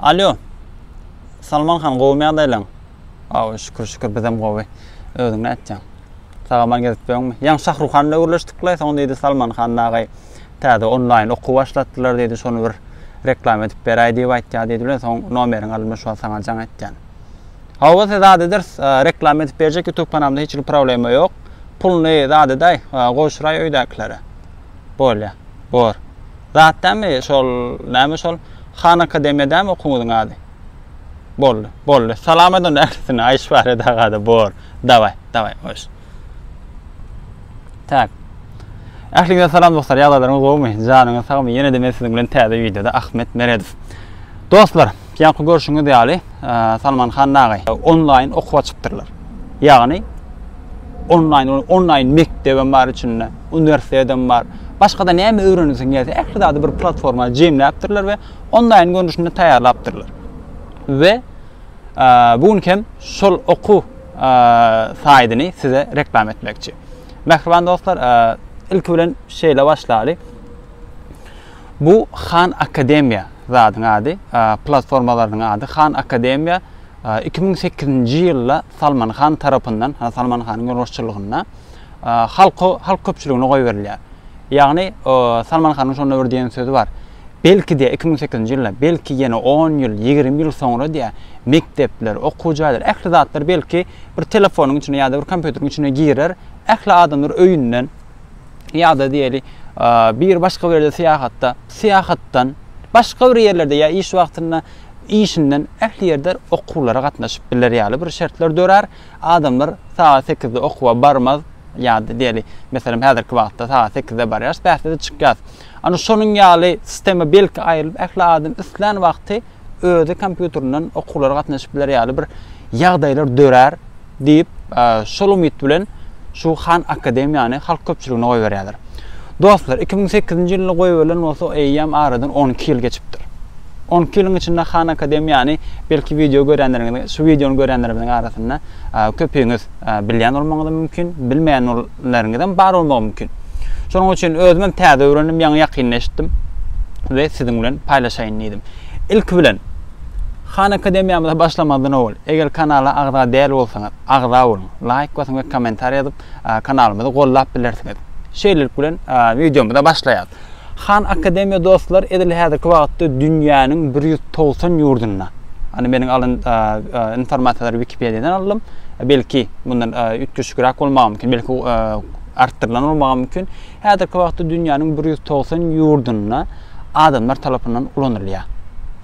Alýo. Salman han, gowumy ýagdaýlaň? Aw, şükür, şükür, bizem gowy. Özüň nätýäň? Sag-aman gezip ýörüňmi? Ýaňy Şahruh han bilen gürleşdik-le, soň diýdi Salman han dagay, täze onlaýn okuw başlatdylar diýdi, şony bir reklama edip beräý diýip aýtýar diýdi bilen, soň nomeriňi alymda şu wagt saňa jaň etýän. Hawa, size zat ederis, reklama edip berjek YouTube kanalymda hiç hili problema ýok. Puluny zat edaý, gowşuraý öýdäkilere. Bolýa. Bor. Zat dämi şol, näme şol, Han Akademiýa dämi okuwyňyzyň ady? Boldy. Boldy. Salam aýt onda ählisine, Aýşfariýet aga-da bor. Dawaý, dawaý, hoş. Tak. Ähliňize salam dostlar, ýagdaýlaryňyz gowumy, janyňyz sagmy, ýene-de men siziň bilen täze wideoda Ahmet Meredow. Dostlar! Ýaňky görşüňiz ýaly, Salman han dagy onlaýn okuw açypdyrlar. Ýagny onlaýn, onlaýn mekdebem bar içinde, uniwersitetedem bar. Başga-da näme öwrenesiň gelse, ähli zady bir platforma jemläpdirler we onlaýn görnüşinde taýýarlapdyrlar. We bu gün hem şol okuw saýdyny size reklam etmekçi. Mähriban dostlar, ilki bilen şeýle başlaly. Bu Khan Academia zadyň ady, platformalarynyň ady. Khan Academia iki müň sekizinji ýylda Salman Khan tarapyndan, Salman Khanyň ýolbaşçylygynda halka, halk köpçüligine goýberilýär. Ýagny Salman Khanyň şonda bir diýen sözi bar. Belki diýýär, iki müň sekizinji ýylda, belki ýene on ýyl, ýigrimi ýyl soňra diýýär, mekdepler, okuw jaýlar, ähli zatlar belki bir telefonyň içine ýa-da bir kompýuteriň içine girer, ähli adamlar öýünden, ýa-da diýeli, bir başga bir ýerde syýahatda, syýahatdan, başga bir ýerlerde ýa iş wagtynda, işinden ähli ýerde okuwlara gatnaşyp biler ýaly bir şertler dörär. Adamlar sagat sekizde okuwa barmaz, ýa-da diýeli, meselem, häzirki wagtda sagat sekizde barýarys, bäsde-de çykýarys. Ana şonuň ýaly sistema belki aýrylyp, ähli adam islän wagty özi kompýuterinden okuwlara gatnaşyp biler ýaly bir ýagdaýlar dörär diýip, şol umyt bilen şu Han Akademiýany halk köpçüligine goýberýärler. Dostlar, 2008-nji ýylda goýberilen bolsa, eýýäm aradan 12 ýyl geçipdir. 12 ýylyň içinde Han Akademiýany belki wideo görýänleriňiz, şu wideony görýänlerimiziň arasynda köpüňiz bilýän bolmagyňyz mümkin, bilmeýän Ýaşaýanlaryňyzam bar bolmagy mümkin. Şonuň üçin özümem täze öwrendim, ýaňy ýakynda eşitdim we siziň bilen paýlaşaýyn diýdim. Ilki bilen, Han Akademiýamyza başlamazdan owal, eger kanala agza däl bolsaňyz, agza boluň, laýk basyň we kommentariýa ýazyp, kanalymyzy gollap bilersiňiz. Şeýlelik bilen, wideomyza başlaýarys. Khan Academy dostlar edil häzirki wagtda dünýäniň bir ýüz togsan ýurdunda, ýagny meniň alan informasiýalary wikipediýadan aldym, belki mundan üç düşügräk bolmagy mümkin, belki artdyrylan bolmagy mümkin, häzirki wagtda dünýäniň bir ýüz togsan ýurdunda adamlar tarapyndan ulanylýar.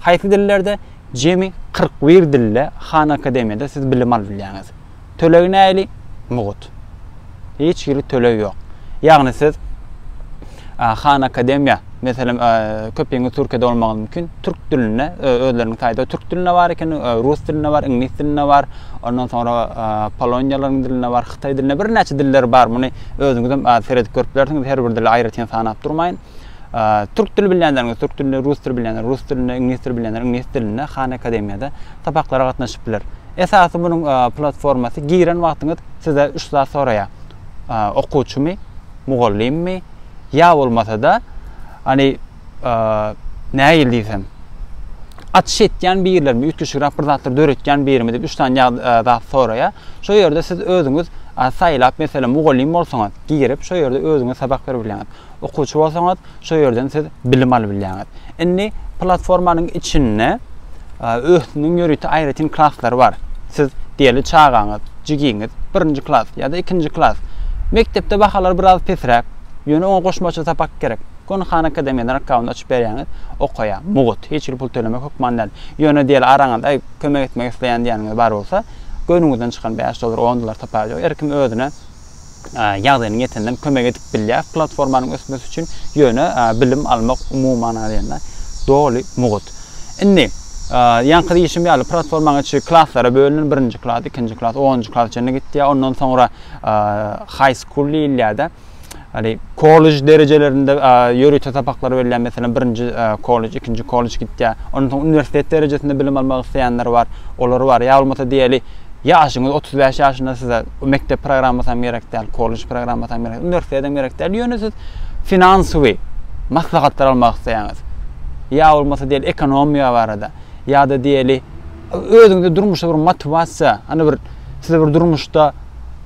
Haýsy dillerde? Jemi kyrk bir dilde Khan Academy-da siz bilim alyp bilýäňiz. Tölegi nähili? Mugt. Hiç hili töleg ýok. Ýagny siz Han Akademiýa, meselem, köpüňiz Türkiýede bolmagyňyz mümkin. Türk dilinde özleriniň saýty türk dilinde bar eken, rus dilinde bar, iňlis dilinde bar. Ondan soňra polonýalaryň dilinde bar, hytaý dilinde birnäçe diller bar. Muny özüňiz hem seredip görüp bilersiňiz. Her bir dili aýratyn sanap durmaýyn. Türk dili bilýänleriňiz türk dilinde, rus dili bilýänler rus dilinde, iňlis dili bilýänler iňlis dilinde Han Akademiýada sapaklara gatnaşyp biler. Esasy munuň platformasy giren wagtyňyz size üç zat soraýar. Okuwçymy, mugallymmy, ýa bolmasada hany nägil diýsem açyş etýän birlermi, üýtgeşigräk bir zatlar döretýän birimi diýip üç sany zat soraýar. Şo ýerde siz özüňiz saýlap meselem mugallym bolsaňyz girip şo ýerde özüňiz sapak berip bilýäňiz. Okuwçy bolsaňyz, şo ýerden siz bilim alyp bilýäňiz. Indi platformanyň içinde özüniň ýörite aýratyn klaslary bar. Siz diýeli çagaňyz, jigiňiz birinji klas ýa-da ikinji klas. Mekdepde bahalar biraz pesräk, ýöne oňa goşmaça sapak gerek. Goni Khan Academy-den akkaunt açyp berýäňiz, okaýa, mugt, hiç hili pul tölemek hökman däl. Ýöne diýeli araňyzda aý kömek etmek isleýän diýýäniňiz bar bolsa, göwnüňizden çykan bäş dollar, on dollar taparjyk, her kim özüne ýagdaýynyň ýeteninden kömek edip bilýär platformanyň ösmesi üçin, ýöne bilim almak umuman alýanda doly mugt. Indi, ýaňky diýişim ýaly, platformaň içi klaslara bölünen, birinji klas, ikinji klas, onunjy klasa çenli gitýär, ondan soňra high school diýilýär-de, ýagny kollej derejelerinde ýörite sapaklar berilýär, meselem, birinji kollej, ikinji kollej gitýär, ondan soň uniwersitet derejesinde bilim almak isleýänler bar, olar bar, ýa bolmasa diýeli, ýaşyňyz otuz bäş ýaşynda size, Bu mekdep programmasy hem gerek däl, kollej programmasy hem gerek, uniwersitet hem gerek däl, ýöne siz finansowy maslahatlar almak isleýäňiz. Ýa bolmasa diýeli ekonomiýa barada, ýa-da diýeli özüňde durmuşda bir motiwasiýa, hany bir sizi bir durmuşda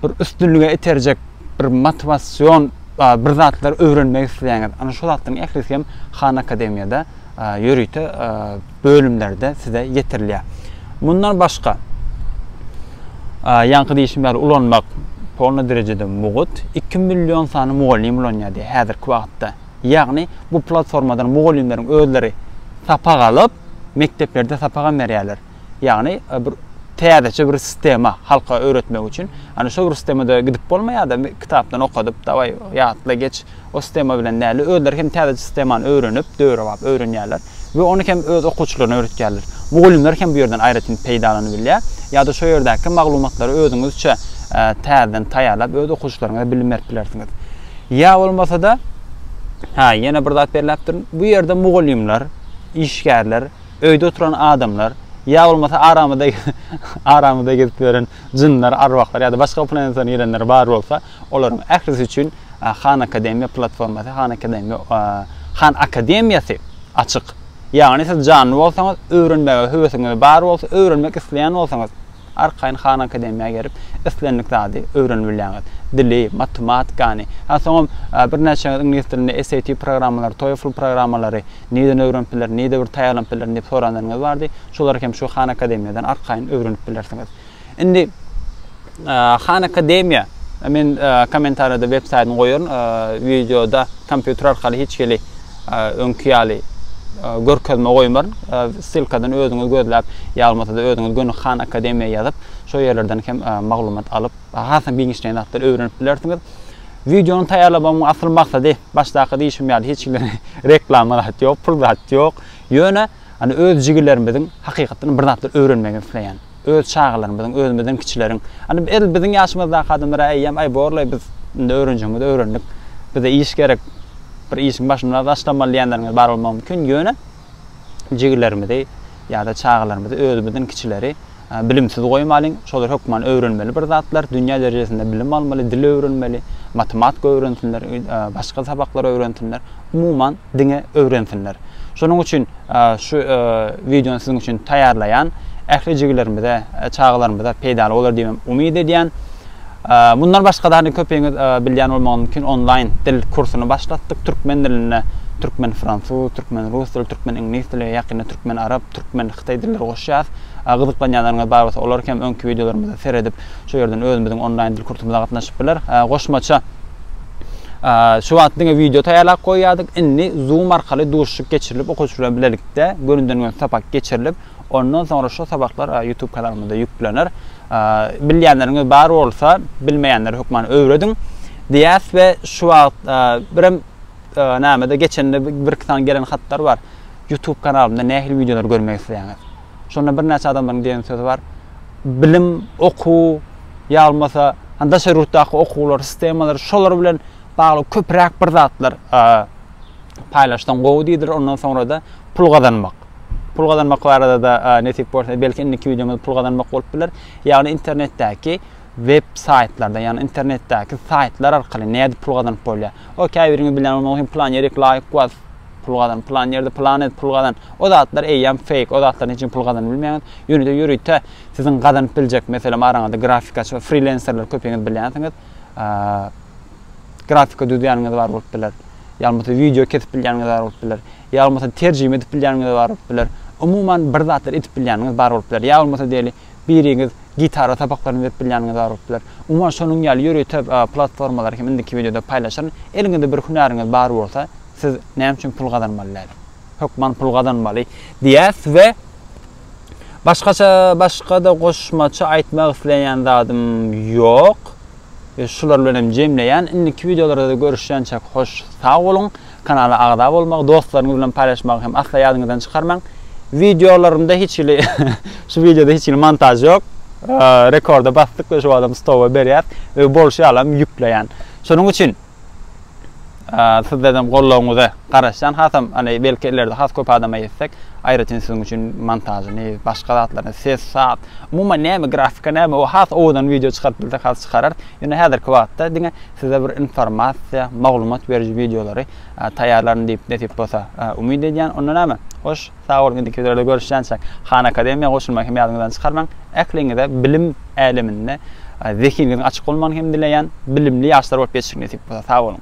bir üstünlige iterjek bir motiwasion bir zatlar öwrenmek isleýäňiz. Ana şu zatlaryň ählisi hem Han Akademiýada. ýörite bölümlerde size ýetirilýär. Mundan başga, ýaňky diýşim ýaly ulanmak polny derejede mugt, iki million sany mugallym ulanýar diýýär häzirki wagtda. Ýagny bu platformadan mugallymlaryň özleri sapak alyp, mekdeplerde sapagam berýärler. Ýagny bir täzeçe bir sistema halka öwretmek üçin. Ýagny şol bir sistemada gidip bolmaýar-da, kitapdan okadyp, dawaý ýatla geç, o sistema bilen däl-de, özleri hem täzeçe sistemany öwrenip, döwrebap öwrenýärler we ony hem öz okuwçylaryna öwretýärler. Mugallymlar hem bu ýerden aýratyn peýdalanyp bilýär. Ýa-da şo ýerdäki maglumatlary özüňizçe täzeden taýýarlap, öz okuwçylaryňyza bilim berip bilersiňiz. Ýa bolmasa-da, ha, ýene bir zat belläp durun, bu ýerde mugallymlar, işgärler, Öýde oturan adamlar, ýa bolmasa aramyda aramyda gezip ýören jynlar, arwahlar ýa-da başga planetadan gelenler bar bolsa, olaryň ählisi üçin Han Akademiýa platformasy, Han Akademiýa, Han Akademiýasy açyk. Ýagny siz janly bolsaňyz, öwrenmäge höwesiňiz bar bolsa, öwrenmek isleýän bolsaňyz, Arkaýyn Han Akademiýa gelip, islendik zady öwrenip bilýäňiz. Dili, matematikany, ha soňam birnäçeňiz iňlis dilinde SAT programmalary, TOEFL programmalary nirden öwrenip bilerin, nirde bir taýýarlanyp bilerin diýip soranlaryňyz bardy. Şolary hem şu Han Akademiýadan arkaýyn öwrenip bilersiňiz. Indi Han Akademiýa men kommentariýada web saýtyny goýaryn, wideoda kompýuter arkaly hiç hili Öňki ýaly görkezme goýmaryn. Ssylkadan özüňiz gözläp, ýalmasada özüňiz göni Khan Akademiýa ýazyp, şo ýerlerden hem maglumat alyp, hasam giňişleýin zatlar öwrenip bilersiňiz. Wideony taýýarlamagymyň asyl maksady, başdaky diýşim ýaly hiç kimden reklama zat ýok, pul zat ýok. Ýöne, hany öz jigillerimiziň hakykatdan bir zatlar öwrenmegini isleýän. Öz çagalarymyzyň, özümizden kiçileriň, Indi edil biziň ýaşymyzdaky adamlara äýýäm, Aý, bor-laý, biz indi öwrenjegimizi öwrendik. Bize iş gerek. Bir işiň başynda başlamaly diýenleriňiz bar bolmagy mümkin. Ýöne jigilerimizi ýa-da çagalarymyzy, özümizden kiçileri bilimsiz goýmalyň. Şolar hökman öwrenmeli bir zatlar, dünýä derejesinde bilim almaly, dil öwrenmeli, matematika öwrensinler, başga sabaklary öwrensinler. umuman diňe öwrensinler. Şonuň üçin şu wideony siziň üçin taýýarlaýan. Ähli jigilerimize, çagalarymyza peýdaly bolar diýip hem umyt edýän. Mundan başga da köpüňiz bilýän bolmagy mümkin onlaýn dil kursuny başlatdyk türkmen dilinde. Türkmen fransuz, türkmen rus dili, türkmen iňlis dili, ýakynda türkmen arap, türkmen hytaý dilleri goşýas. Gyzyklanýanlaryňyz bar bolsa olar hem öňki wideolarymyzy seredip şu ýerden özümiziň onlaýn dil kursumyza gatnaşyp biler. Goşmaça Şu wagt diňe wideo taýýarlap goýýardyk, indi Zoom arkaly duşuşyk geçirilip, okuwçy bilen bilelikde gönüden-göni sapak geçirilip, ondan soňra şu sabaklar YouTube kanalymyzda ýüklener. Bilýänleriňiz bar bolsa, bilmeýänlere hökman öwrediň diýýäs we şu wagt birem näme-de geçende birki sany gelen hatlar bar. YouTube kanalymda nähili wideolary görmegi isleýäňiz? Şonda birnäçe adamlaryň diýen sözi bar. Bilim, okuw ýa bolmasa hani daşary ýurtdaky okuwlar, sistemalary şolar bilen bagly köpräk bir zatlar paýlaşsaň gowy diýdiler. Ondan soňra-da pul gazanmak. Pul gazanmak barada-da nesip bolsa belki indiki wideomyzda pul gazanmak bolup biler. Ýagny internetdäki web saýtlarda, ýagny internetdäki saýtlar arkaly nädip pul gazanyp bolýar. O käbiriňiz bilýän bolmaly, plan ýerik laýk was. pul gazan, plan ýerde plan edip pul gazan, o zatlar eýýäm feýk, o zatlaryň hiç kim pul gazanyp bilmeýäňiz. Ýöne-de ýörite siziň gazanyp biljek, meselem, araňyzda grafikaçy we frilenserler köpüňiz bilýänsiňiz. Grafika düzýäniňiz bar bolup biler. Ýa bolmasa wideo kesip bilýäniňiz bar bolup biler. Ýa bolmasa terjime edip bilýäniňiz bar bolup biler. Umuman bir zatlar edip bilýäniňiz bar bolup biler. Ýa bolmasa diýeli, biriňiz gitara sapaklaryny berip bilýäniňiz bar bolup biler. Umuman şonuň ýaly ýörite platformalary hem indiki wideoda paýlaşaryn. Eliňizde bir hünäriňiz bar bolsa, siz näme üçin pul gazanmaly däl? Hökman pul gazanmaly diýýäs we başgaça başga-da goşmaça aýtmak isleýän zadym ýok. Şular bilen hem jemleýän. Indiki wideolarda görüşýänçäk hoş sag boluň. Kanala agza bolmagy, dostlaryňyz bilen paýlaşmagy hem asla ýadyňyzdan çykarmaň. Wideolarymda hiç hili şu wideoda hiç hili montaž ýok. Rekorda basdyk we şu wagtam stowa berýäs we bolşy ýalam ýükleýän. Şonuň üçin sizlerden gollawyňyza garaşýan. Hasam hany belki ileride has köp adama ýetsek, aýratyn siziň üçin montažyny, başga zatlaryny, ses, saz, umuman näme grafika näme o has owadan wideo çykaryp bilsek has çykararys. Ýöne häzirki wagtda diňe Size bir informasiýa, maglumat beriji wideolary taýýarlaryn diýip nesip bolsa umyt edýän. Onda näme? Hoş, sag boluň indiki wideolarda görüşýänçäk. Han Akademiýa goşulmagy hem ýadyňyzdan çykarmaň. Ähliňize bilim äleminde zehiniňiziň açyk bolmagyny hem dileýän. Bilimli ýaşlar bolup ýetişiň nesip bolsa. Sag boluň.